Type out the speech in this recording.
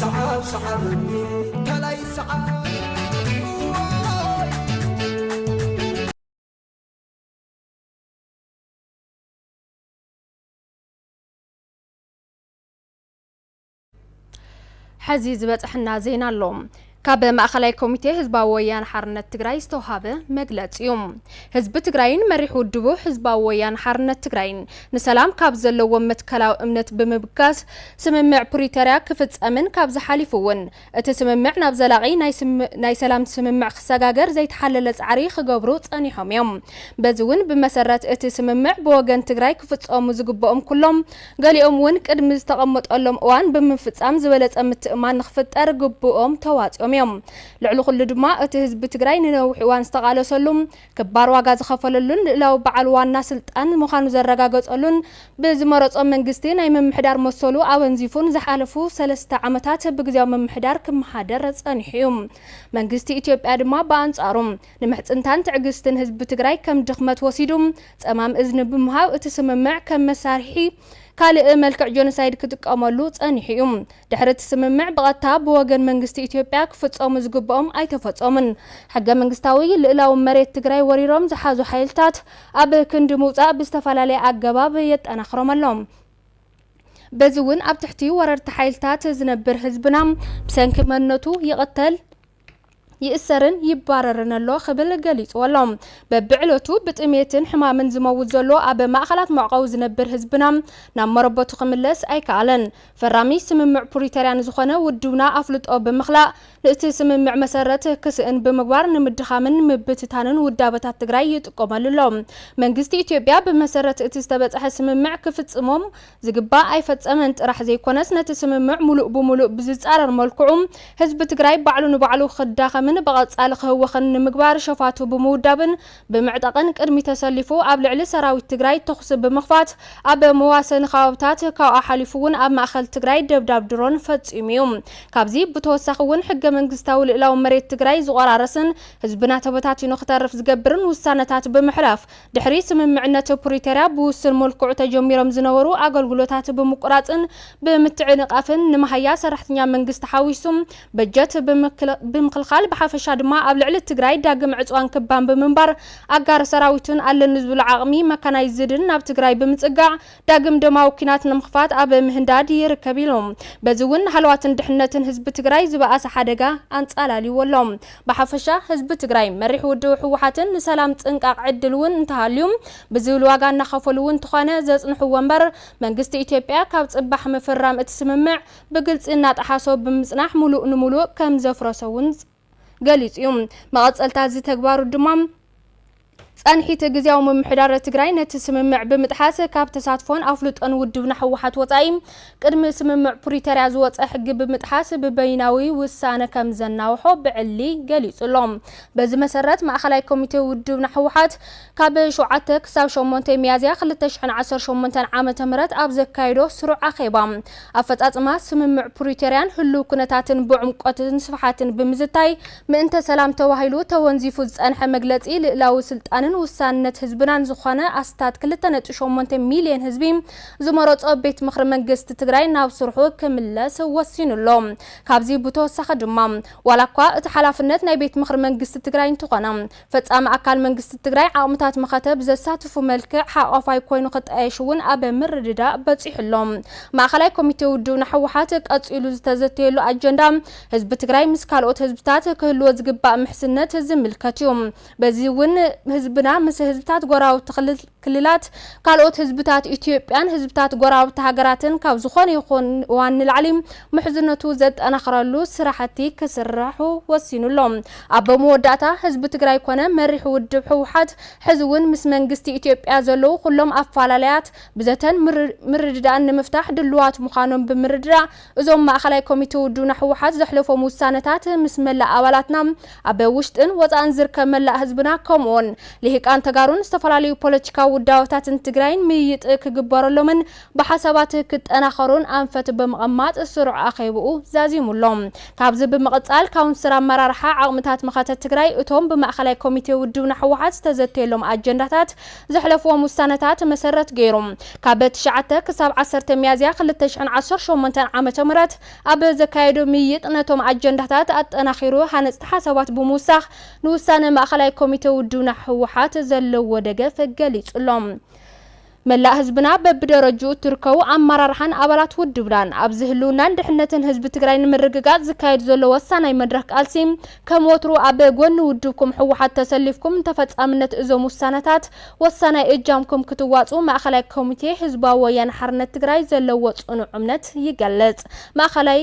ሰዓብ ሰዓበኒ ከላይ ሰዓብ ሐዚ ዝበፀሐና ዜና ኣሎ። ካብ ማእኸላይ ኮሚቴ ህዝባዊ ወያነ ሓርነት ትግራይ ዝተውሃበ መግለፂ ዩ። ህዝቢ ትግራይን መሪሕ ውድቡ ህዝባዊ ወያነ ሓርነት ትግራይን ንሰላም ካብ ዘለዎም መትከላዊ እምነት ብምብጋስ ስምምዕ ፕሪተርያ ክፍፀምን ካብዚ ሓሊፉ ውን እቲ ስምምዕ ናብ ዘላቒ ናይ ሰላም ስምምዕ ክሰጋገር ዘይተሓለለ ፃዕሪ ክገብሩ ፀኒሖም ዮም። በዚ ውን ብመሰረት እቲ ስምምዕ ብወገን ትግራይ ክፍፀሙ ዝግበኦም ኩሎም ገሊኦም እውን ቅድሚ ዝተቐመጠሎም እዋን ብምፍፃም ዝበለፀ ምትእምማን ንክፍጠር ግቡኦም ተዋፂኦም እዮም። ልዕሊ ኩሉ ድማ እቲ ህዝቢ ትግራይ ንነዊሕ እዋን ዝተቓለሰሉ፣ ክባር ዋጋ ዝኸፈለሉን ልእላዊ በዓል ዋና ስልጣን ምዃኑ ዘረጋገፀሉን ብዝመረፆ መንግስቲ ናይ ምምሕዳር መሰሉ ኣወንዚፉን ዝሓለፉ ሰለስተ ዓመታት ብግዝያዊ ምምሕዳር ክመሓደር ፀኒሑ እዩ። መንግስቲ ኢትዮጵያ ድማ ብኣንፃሩ ንምሕፅንታን ትዕግስትን ህዝቢ ትግራይ ከም ድኽመት ወሲዱ ጸማም እዝኒ ብምሃብ እቲ ስምምዕ ከም መሳርሒ ካልእ መልክዕ ጆኖሳይድ ክጥቀመሉ ጸኒሑ እዩ። ድሕሪ እቲ ስምምዕ ብቐጥታ ብወገን መንግስቲ ኢትዮጵያ ክፍጸሙ ዝግብኦም ኣይተፈጸሙን። ሕገ መንግስታዊ ልእላዊ መሬት ትግራይ ወሪሮም ዝሓዙ ሓይልታት ኣብ ክንዲ ምውጻእ ብዝተፈላለየ ኣገባብ የጠናኽሮም ኣሎ። በዚ እውን ኣብ ትሕቲ ወረርቲ ሓይልታት ዝነብር ህዝብና ብሰንኪ መንነቱ ይቕተል፣ ይእሰርን ይባረርን ኣሎ ክብል ገሊጽዎ ኣሎ። በብዕለቱ ብጥሜትን ሕማምን ዝመውት ዘሎ ኣብ ማእኸላት መዕቆቢ ዝነብር ህዝብና ናብ መረበቱ ክምለስ ኣይከኣለን። ፈራሚ ስምምዕ ፕሪተርያ ንዝኾነ ውድብና ኣፍልጦ ብምኽላእ ንእቲ ስምምዕ መሰረት ክስእን ብምግባር ንምድኻምን ምብትታንን ውዳበታት ትግራይ ይጥቀመሉ ኣሎ። መንግስቲ ኢትዮጵያ ብመሰረት እቲ ዝተበፀሐ ስምምዕ ክፍፅሞም ዝግባእ ኣይፈፀመን ጥራሕ ዘይኮነስ ነቲ ስምምዕ ሙሉእ ብሙሉእ ብዝፃረር መልክዑ ህዝቢ ትግራይ ባዕሉ ንባዕሉ ክዳኸምን ብቐፃሊ ክህወኽን ንምግባር ሸፋቱ ብምውዳብን ብምዕጣቕን ቅድሚ ተሰሊፉ ኣብ ልዕሊ ሰራዊት ትግራይ ተኹሲ ብምኽፋት ኣብ መዋሰኒ ከባብታት ካብኡ ሓሊፉ እውን ኣብ ማእኸል ትግራይ ደብዳብ ድሮን ፈፂሙ እዩ። ካብዚ ብተወሳኺ እውን ሕገመንግስታዊ ልእላዊ መሬት ትግራይ ዝቖራረስን ህዝብና ተበታቲኑ ክተርፍ ዝገብርን ውሳነታት ብምሕላፍ ድሕሪ ስምምዕነት ፕሪቶርያ ብውሱን መልክዑ ተጀሚሮም ዝነበሩ ኣገልግሎታት ብምቁራፅን ብምትዕንቓፍን ንመሃያ ሰራሕተኛ መንግስቲ ሓዊሱ በጀት ብምኽልኻል ብሓፈሻ ድማ ኣብ ልዕሊ ትግራይ ዳግም ዕፅዋን ክባን ብምንባር ኣጋር ሰራዊትን ኣለኒ ዝብሎ ዓቕሚ መካናይዝድን ናብ ትግራይ ብምፅጋዕ ዳግም ደማዊ ኲናት ንምኽፋት ኣብ ምህንዳድ ይርከብ ኢሉ። በዚ እውን ንሃለዋትን ድሕነትን ህዝቢ ትግራይ ዝበኣሰ ሓደጋ ኣንፃላልይዎ ኣሎ። ብሓፈሻ ህዝቢ ትግራይ፣ መሪሕ ውድቡ ህወሓትን ንሰላም ፅንቃቕ ዕድል እውን እንተሃልዩ ብዝብል ዋጋ እናኸፈሉ እውን እንተኾነ ዘፅንሕዎ እምበር መንግስቲ ኢትዮጵያ ካብ ፅባሕ ምፍርራም እቲ ስምምዕ ብግልፂ እናጠሓሶ ብምፅናሕ ሙሉእ ንሙሉእ ከምዘፍረሶ እውን ገሊፁ ዩ። መቐፀልታ እዚ ተግባሩ ድማ ፀንሒት ግዝያዊ ምምሕዳር ትግራይ ነቲ ስምምዕ ብምጥሓስ ካብ ተሳትፎን ኣፍልጦን ውድብና ህወሓት ወፃኢ ቅድሚ ስምምዕ ፕሪተርያ ዝወፀ ሕጊ ብምጥሓስ ብበይናዊ ውሳነ ከምዘናውሖ ብዕሊ ገሊፁ ኣሎ። በዚ መሰረት ማእኸላይ ኮሚቴ ውድብና ህወሓት ካብ ሸውዓተ ክሳብ ሸሞንተ ሚያዝያ ክልተ ሽሕን ዓሰርተ ሸሞንተን ዓመተ ምህረት ኣብ ዘካየዶ ስሩዕ ኣኼባ፣ ኣፈጻጽማ ስምምዕ ፕሪቶርያን ህሉው ኩነታትን ብዕምቆትን ስፍሓትን ብምዝታይ፣ ምእንተ ሰላም ተባሂሉ ተወንዚፉ ዝጸንሐ መግለጺ ልእላዊ ስልጣንን ውሳንነት ህዝብናን ዝኾነ ኣስታት ክልተ ነጥቢ ሸሞንተ ሚልዮን ህዝቢ ዝመረጾ ቤት ምኽሪ መንግስቲ ትግራይ ናብ ስርሑ ክምለስ ወሲኑ ኣሎ። ካብዚ ብተወሳኺ ድማ ዋላኳ እቲ ሓላፍነት ናይ ቤት ምኽሪ መንግስቲ ትግራይ እንተኾነ፣ ፈፃሚ ኣካል መንግስቲ ትግራይ ዓቕምታት መኸተ ብዘሳትፉ መልክዕ ሓቛፋይ ኮይኑ ክጣየሽ እውን ኣብ ምርድዳእ በፂሑ ኣሎ። ማእኸላይ ኮሚቴ ውድብና ህወሓት ቀፂሉ ዝተዘተየሉ ኣጀንዳ ህዝቢ ትግራይ ምስ ካልኦት ህዝብታት ክህልዎ ዝግባእ ምሕዝነት ዝምልከት እዩ። በዚ እውን ህዝብና ምስ ህዝብታት ጎረባብቲ ክልላት፣ ካልኦት ህዝብታት ኢትዮጵያን ህዝብታት ጎረባብቲ ሃገራትን ካብ ዝኾነ ይኹን እዋን ንላዕሊ ምሕዝነቱ ዘጠናኽረሉ ስራሕቲ ክስራሑ ወሲኑ ኣሎ። ኣብ መወዳእታ ህዝቢ ትግራይ ኮነ መሪሕ ውድብ ህወሓት ሕዚ እውን ምስ መንግስቲ ኢትዮጵያ ዘለዉ ኩሎም ኣፈላላያት ብዘተን ምርድዳእን ንምፍታሕ ድሉዋት ምዃኖም ብምርድዳእ እዞም ማእኸላይ ኮሚቴ ውድብና ህወሓት ዘሕለፎም ውሳነታት ምስ መላእ ኣባላትና ኣብ ውሽጥን ወፃእን ዝርከብ መላእ ህዝብና ከምኡውን ልሂቃን ተጋሩን ዝተፈላለዩ ፖለቲካዊ ውዳበታትን ትግራይን ምይይጥ ክግበረሎምን ብሓሳባት ክጠናኸሩን ኣንፈት ብምቕማጥ ስሩዕ ኣኼብኡ ዛዚሙ ኣሎ። ካብዚ ብምቕፃል ካውንስር ኣመራርሓ ዓቕምታት መኸተ ትግራይ እቶም ብማእኸላይ ኮሚቴ ውድብና ህወሓት ዝተዘተየሎም ኣጀንዳታት ዘሕለፍዎም ውሳነታት መሰረት ገይሩ ካብ ትሽዓተ ክሳብ ዓሰርተ ሚያዝያ ክልተ ሽሕን ዓሰርተ ሸሞንተን ዓመተ ምህረት ኣብ ዘካየዶ ምይይጥ ነቶም ኣጀንዳታት ኣጠናኺሩ ሃነፅቲ ሓሳባት ብምውሳኽ ንውሳነ ማእኸላይ ኮሚቴ ውድብና ህወሓት ዘለዎ ደገፍ ገሊፁ ኣሎ። መላእ ህዝብና በብደረጅኡ እትርከቡ ኣመራርሓን ኣባላት ውድብናን ኣብዚ ህልውናን ድሕነትን ህዝቢ ትግራይ ንምርግጋፅ ዝካየድ ዘሎ ወሳናይ መድረኽ ቃልሲ ከም ወትሩ ኣብ ጎኒ ውድብኩም ህወሓት ተሰሊፍኩም ንተፈፃምነት እዞም ውሳነታት ወሳናይ እጃምኩም ክትዋፅኡ ማእኸላይ ኮሚቴ ህዝባዊ ወያነ ሓርነት ትግራይ ዘለዎ ፅኑዕ እምነት ይገልፅ። ማእኸላይ